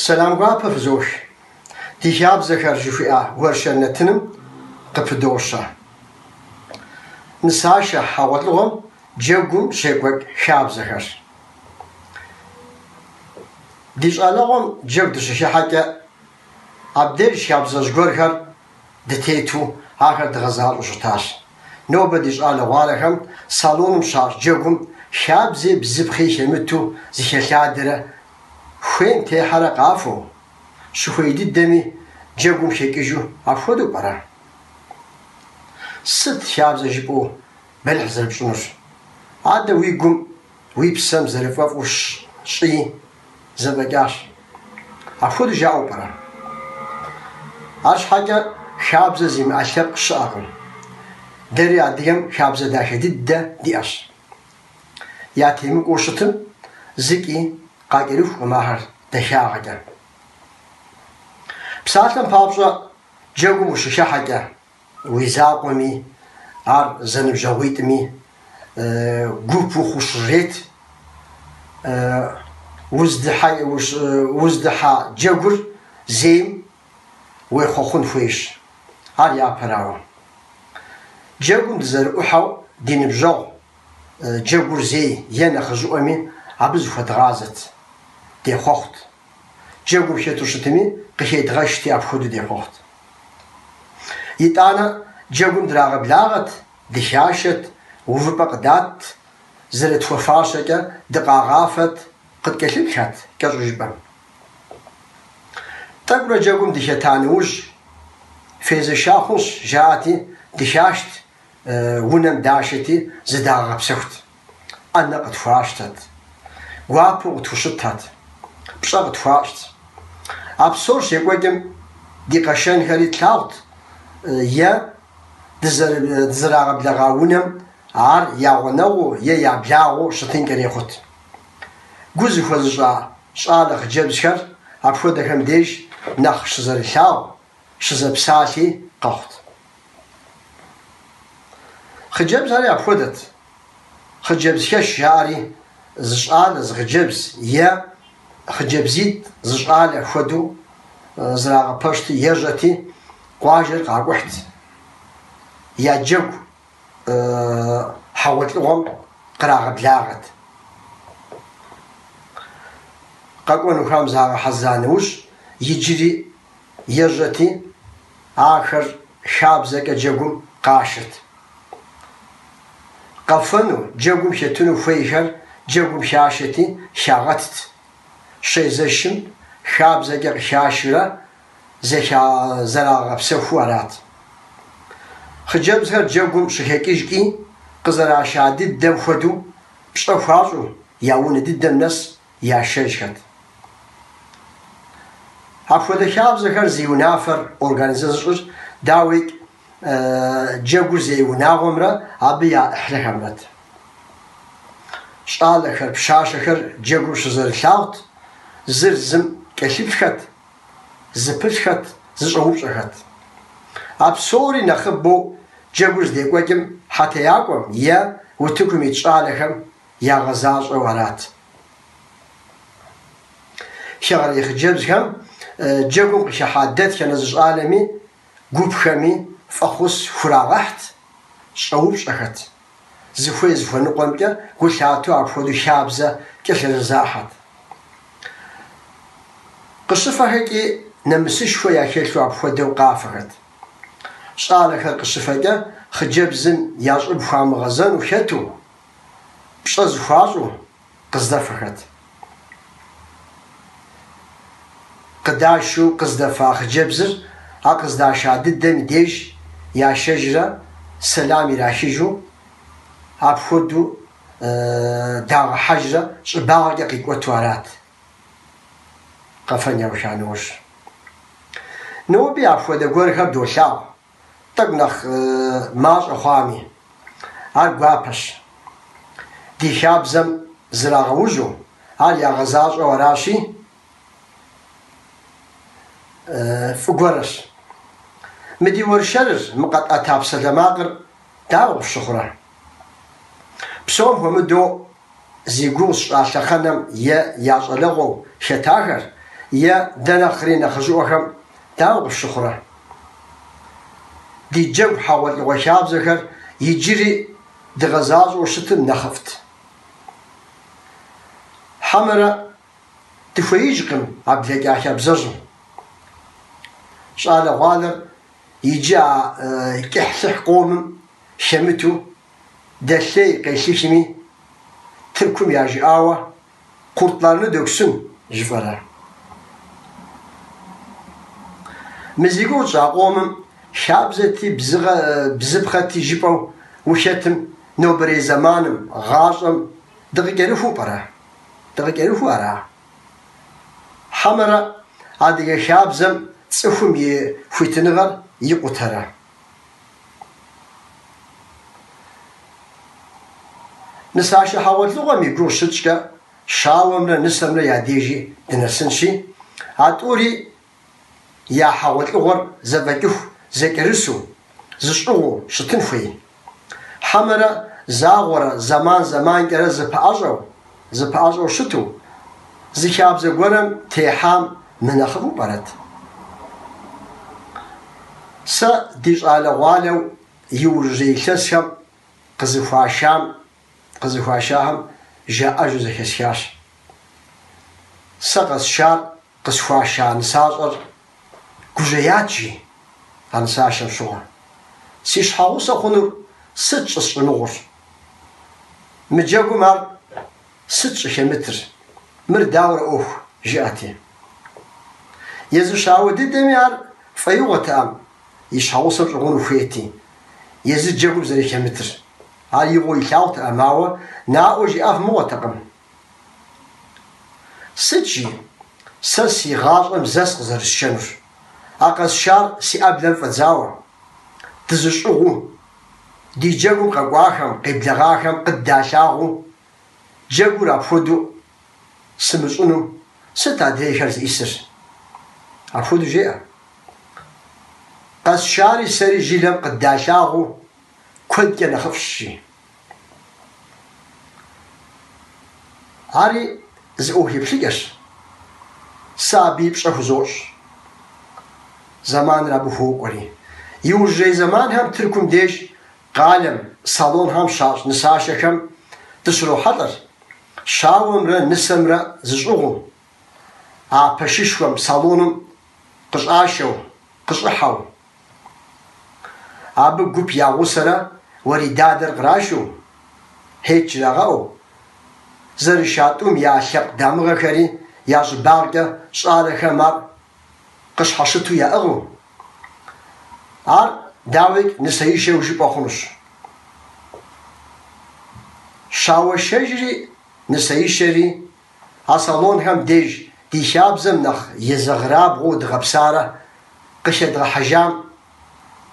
Сэлам гуапэ фызох. Ди хабзэхэр жыхуиӏа уэршэр нэтыным къыпыдощэ. Нысашэ хьэгъуэлӏыгъуэм джэгум щекӏуэкӏ хабзэхэр. Ди щӏалэгъуэм джэгу дыщыхыхьэкӏэ, абдеж хабзэщӏ гуэрхэр дытету ахэр дгъэзащӏэу щытащ. Нобэ ди щӏалэгъуалэхэм салоным щащӏ джэгум хабзи бзыпхъи хэмыту зыхэлъадэрэ хуейм техьэрэ къафэу, щыхуей дыдэми джэгум хэкӏыжу апхуэдэу пӏэрэ? Сыт хабзэ жыпӏэу Бэлыхь зэрыпщӏынущ. Адэ уи гум, уи псэм зэрыфӏэфӏу щӏи, зэфӏэкӏащ. Апхуэдэу жаӏэу пӏэрэ? Ащхьэкӏэ хабзэ зимыӏэ лъэпкъ щыӏэкъым. Дэри адыгэм хабзэ дахэ дыдэ диӏэщ. Ятемыкӏуэу щытым, зыкӏи къакӏэрыхукъым ахэр дахагъэкӏэ. Псалъэм папщӏэ, джэгум ущыхыхьэкӏэ, Уи закъуэми, ар зэныбжьэгъуитӏми гуп ухъуу щырет. Уздыхьэ джэгур зейм уехъуэхъун хуейщ, ар япэрауэ. Джэгум дызэрыӏухьэу ди ныбжьэгъу джэгур зей е нэхъыжьыӏуэми абы зыхуэдгъазэт, дехъуэхъут. Джэгум хэту щытми, къыхедгъэшти, апхуэдэу дехъуэхъут. Итӏанэ, джэгум драгъэблагъэт, дыхашэт, увыпӏэ къыдатт, зэрытхуэфащэкӏэ дыкъагъафэт, къыткӏэлъыплъат кӏэщӏу жыпӏэм. Тӏэкӏурэ джэгум дыхета нэужь, фезэша хъунщ, жаӏэти, дыхашт, унэм дашэти, зыдагъэгъэпсэхут. ӏэнэ къытхуащтэт, гуапэу къытхущытат, пщӏэ къытхуащӏт. А псор щекӏуэкӏым ди къэшэнхэри тлъагъут е дызэрагъэблэгъа унэм ар я гъунэгъуу е я благъэу щытынкӏэри хъут. Гу зыхуэзыщӏа щӏалэ хъыджэбзхэр апхуэдэхэм деж нэхъ щызэрылъагъу щызэпсалъи къэхъут. Хъыджэбз ари апхуэдэт. Хъыджэбзхэш жаӏэри зы щӏалэ, зы хъыджэбз е хъыджэбзитӏ зы щӏалэ хуэдэу зэрагъэпэщти, ежьэти, къуажэр къакӏухьт. Я джэгу хьэгъуэлӏыгъуэм кърагъэблагъэт. Къэкӏуэнухэм загъэхьэзыра нэужь, иджыри ежьэти, ахэр хабзэкӏэ джэгум къашэрт. Къэфэну, джэгум хетыну хуейхэр джэгум хашэти, хагъэтт. Щезэшым, хабзэкӏэ къыхашурэ зэхязэрагъэпсэхуу арат. Хъыджэбзхэр джэгум щыхэкӏыжкӏи, къызэраша дыдэм хуэдэу, пщӏэ хуащӏу, я унэ дыдэм нэс, яшэжхэт. Апхуэдэ хабзэхэр зи унафэр организэ зыщӏыр, дауикӏ, джэгур зей унагъуэмрэ абы я ӏыхьлэхэмрэт. Щӏалэхэр, пщащэхэр джэгур щызэрылъагъут, зыр зым кӏэлъыплъхэт, зыпылъхэт, зыщӏэупщӏэхэт. А псори нэхъыбэу джэгур здекӏуэкӏым хьэтеякӏуэм е утыкум ит щӏалэхэм ягъэзащӏэу арат. Хэгъэрей хъыджэбзхэм джэгум къыхыхьа дэтхэнэ зы щӏалэми гупхэми фӏэхъус хурагъэхьт щӏэупщӏэхэт, зыхуей зыхуэныкъуэмкӏэ гу лъатэу апхуэдэу хабзэ кӏэлъызэзахьэт. Къыщыфэхэкӏи нэмысышхуэ яхэлъу апхуэдэу къафэхэт. Щӏалэхэр къыщыфэкӏэ хъыджэбзым я щӏыб хуамыгъэзэну хэту, пщӏэ зэхуащӏу къыздэфэхэт. Къыдашэу къыздэфа хъыджэбзыр а къыздаша дыдэм и деж яшэжрэ сэлам ирахыжу, апхуэдэу дагъэхьэжрэ щӏыбагъкӏэ къикӏуэту арат. Къэфэн яуха нэужь, ноби апхуэдэ гуэрхэр долъагъу. тӏэкӏу нэхъ мащӏэ хъуами, ар гуапэщ. Ди хабзэм зрагъэужьу, ар ягъэзащӏэу аращи, фӏы гуэрщ. Мы ди уэршэрыр, мы къэтӏэта псалэмакъыр дауэ къыфщыхъурэ? Псом хуэмыдэу зи гугъу сщӏа лъэхъэнэм е я щӏалэгъуэу хэтахэр, е дэ нэхъри нэхъыжьыӏуэхэм дауэ къыфщыхъурэ? Ди джэгу хьэгъуэлӏыгъуэ хабзэхэр иджыри дыгъэзащӏэу щытым нэхъыфӏт. Хьэмэрэ дыхуеижкъым а блэкӏа хабзэжьым. Щӏалэгъуалэр иджы а кӏыхьлӏыхь къомым хэмыту дэлъей къелъыхьми, Тыркум яжиӏауэ Куртларну доксун жыфӏэрэ? Мы зи гугъу тщӏа къомым хабзэти, бзыпхъэти жыпӏэу ухэтым нобэрей зэманым, гъащӏэм дыкъыкӏэрыхуу пӏэрэ? Дыкъыкӏэрыхуу ара? Хьэмэрэ адыгэ хабзэм цӏыхум и хуитыныгъэр икъутэрэ? Нысашэ хьэгъуэлӏыгъуэм и гугъу щытщӏкӏэ, щауэмрэ нысэмрэ я дежи дынэсынщи, а тӏури я хьэгъуэлӏыгъуэр зэфӏэкӏыху, зэкӏэрысу, зыщӏыгъуу щытын хуей. Хьэмэрэ загъуэрэ зэман-зэманкӏэрэ зэпыӏэщӏэу, Зыпыӏэщӏэу щыту, зы хабзэ гуэрэм техьам мынэхъыфӏу пӏэрэт? Сэ ди щӏалэгъуалэу иужьрей илъэсхэм къызыхуашам, къызыхуашахэм жаӏэжу зэхэсхащ. Сэ къэсшар Къысхуаша нысащӏэр гужьеят, жи, а нысашэм щыгъуэ. Си щхьэгъусэ хъунур сыт щӏысщӏымыгъур? Мы джэгум ар сыт щӏыхэмытыр? Мыр дауэрэ ӏуэху? жиӏэти. Езы щауэ дыдэми ар фӏэигъуэтэӏэм и щхьэгъусэм щӏыгъуну хуейти, езы джэгум зэрыхэмытыр. Ар игъуэу илъагъутэӏэм, ауэ наӏуэ жиӏэф мыгъуэтэкъым. Сыт жи? Сэ си гъащӏэм зэ къызэрысшэнущ. А къэсшар си ӏэблэм фӏэдзауэ. Дызыщӏыгъуу, ди джэгум къэкӏуахэм, къеблэгъахэм къыддалъагъуу, джэгур апхуэдэу сымыщӏыну сыт адрейхэр зыӏисыр? Апхуэдэу жеӏэ. Къэсшари сэри жылэм къыддалъагъуу куэдкӏэ нэхъыфӏщ, жи. Ари зы ӏуэху еплъыкӏэщ. Сэ абы и пщӏэ хузощӏ. Зэманыр абы хуокӏуэри. Иужьрей зэманхэм Тыркум деж къалэм, салонхэм щащӏ нысашэхэм дыщрохьэлӏэр, щауэмрэ нысэмрэ зыщӏыгъуу. А пэшышхуэм, салоным къыщӏашэу, къыщӏыхьэу, абы гуп я гъусэрэ уэридадэр кърашу, хьет жрагъэӏэу, зэрыша тӏум я лъэпкъ дамыгъэхэри я щӏыбагъкӏэ щӏалэхэм ар къыщхьэщыту яӏыгъыу, ар, дауикӏ, нысэишэу жыпӏэ хъунущ. Щауэшэжри нысэишэри А салонхэм деж ди хабзэм нэхъ езэгърабгъуу дгъэпсарэ къыхэдгъэхьэжам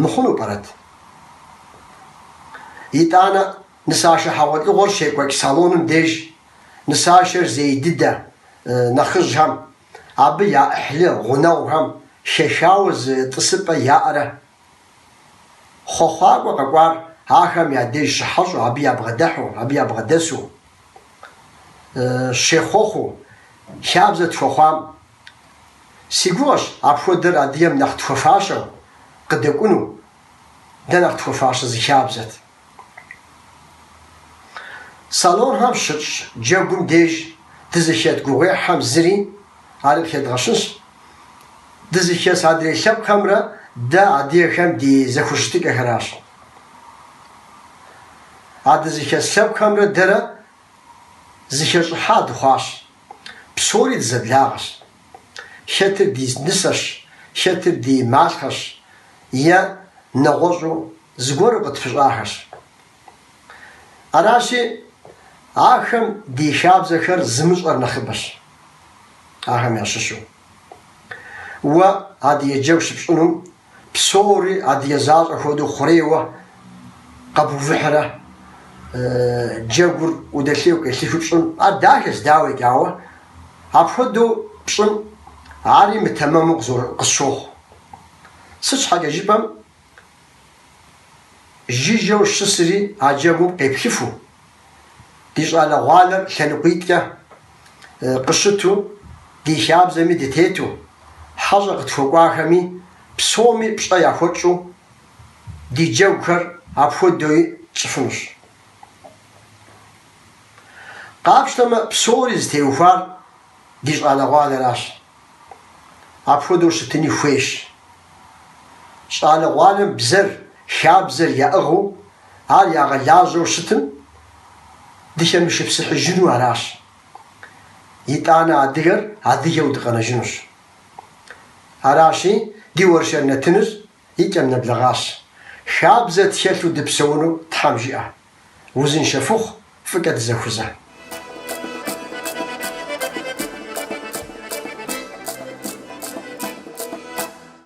мыхъуну пӏэрэт? Итӏанэ, нысашэ хьэгъуэлӏыгъуэр щекӏуэкӏ салоным деж нысашэр зей дыдэ нэхъыжьхэм, абы я ӏыхьлы гъунэгъухэм хэхауэ зы тӏысыпӏэ яӏэрэ? Хъуэхъуакӏуэ къэкӏуар ахэм я деж щыхьэщӏэу, абы ябгъэдыхьэу, абы ябгъэдэсу щехъуэхъуу, хабзэ тхуэхъуам. Си гугъэщ апхуэдэр адыгэм нэхъ тхуэфащэу къыдэкӏуну, дэ нэхъ тхуэфащэ зы хабзэт. Салонхэм щытщӏ джэгум деж дызыхэт гугъуехьхэм зыри, ар къыхэдгъэщынщ дызыхэс адрей лъэпкъхэмрэ дэ адыгэхэм ди зэхущытыкӏэхэращ. А дызыхэс лъэпкъхэмрэ дэрэ зыхэщӏыхьа дыхъуащ, псори дызэблагъэщ. Хэтыр ди нысэщ, хэтыр ди малъхъэщ е нэгъуэщӏу зыгуэру къытпыщӏахэщ. Аращи, ахэм ди хабзэхэр зымыщӏэр нэхъыбэщ ахэм ящыщу. Уэ адыгэ джэгу щыпщӏынум Псори адыгэ защӏэ хуэдэу хъурейуэ къэбувыхьрэ джэгур удэлъейуэ къелъыхыу пщӏын, ар дахэщ, дауикӏ, ауэ апхуэдэу пщӏын ари мытэмэму къысщохъу. Сыт щхьэкӏэ жыпӏэм, жыжьэу щысри а джэгум къеплъыфу. Ди щӏалэгъуалэр лъэныкъуитӏкӏэ къыщыту, ди хабзэми дытету, хьэщӏэ къытхуэкӏуахэми псоми пщӏэ яхуэтщӏу ди джэгухэр апхуэдэуи тщӏыфынущ. Къапщтэмэ, псори зытеухуар ди щӏалэгъуалэращ. Апхуэдэу щытыни хуейщ. Щӏалэгъуалэм бзэр, хабзэр яӏыгъыу, ар ягъэлажьэу щытым, дыхэмышыпсыхьыжыну аращ. Итӏанэ адыгэр адыгэу дыкъэнэжынущ. Аращи, ди уэршэр нэтыныр и кӏэм нэблэгъащ. Хабзэ тхэлъу дыпсэуну Тхьэм жиӏэ. Узыншэ фыхъу, фӏыкӏэ дызэхузэ.